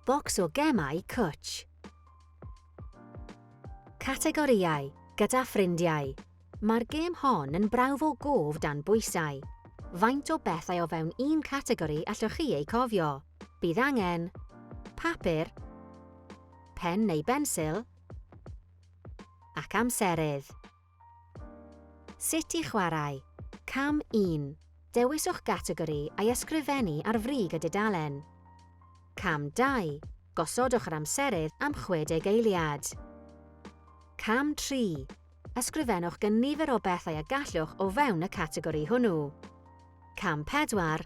Bocs o gemau cwtsh. Categorïau, gyda ffrindiau. Mae'r gêm hon yn brawf o gof dan bwysau. Faint o bethau o fewn un categori allwch chi eu cofio? Bydd angen papur, pen neu bensil ac amserydd. Sut i chwarae. Cam 1. Dewiswch gategori a'i ysgrifennu ar frig y dudalen. Cam 2. Gosodwch yr amserydd am 60 eiliad. Cam 3. Ysgrifennwch gynifer o bethau y gallwch o fewn y categori hwnnw. Cam 4.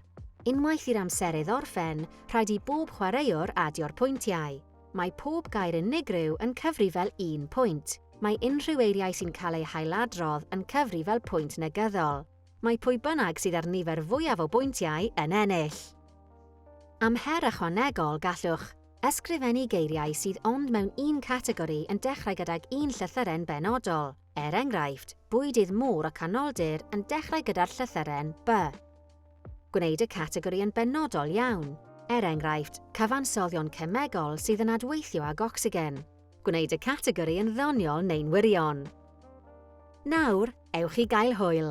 Unwaith i'r amserydd orffen, rhaid i bob chwaraewr adio'r pwyntiau. Mae pob gair unigryw yn cyfri fel un pwynt. Mae unrhyw eiriau sy'n cael eu hailadrodd yn cyfri fel pwynt negyddol. Mae pwy bynnag sydd â'r nifer fwyaf o bwyntiau yn ennill. Am her ychwanegol, gallwch. Ysgrifennu geiriau sydd ond mewn un categori yn dechrau gydag un llythyren benodol. Er enghraifft, bwydydd môr y Canoldir yn dechrau gyda'r llythyren 'by'. Gwneud y categori yn benodol iawn, er enghraifft, cyfansoddion cemegol sydd yn adweithio ag ocsigen. Gwneud y categori yn ddoniol neu'n wirion. Nawr, ewch i gael hwyl!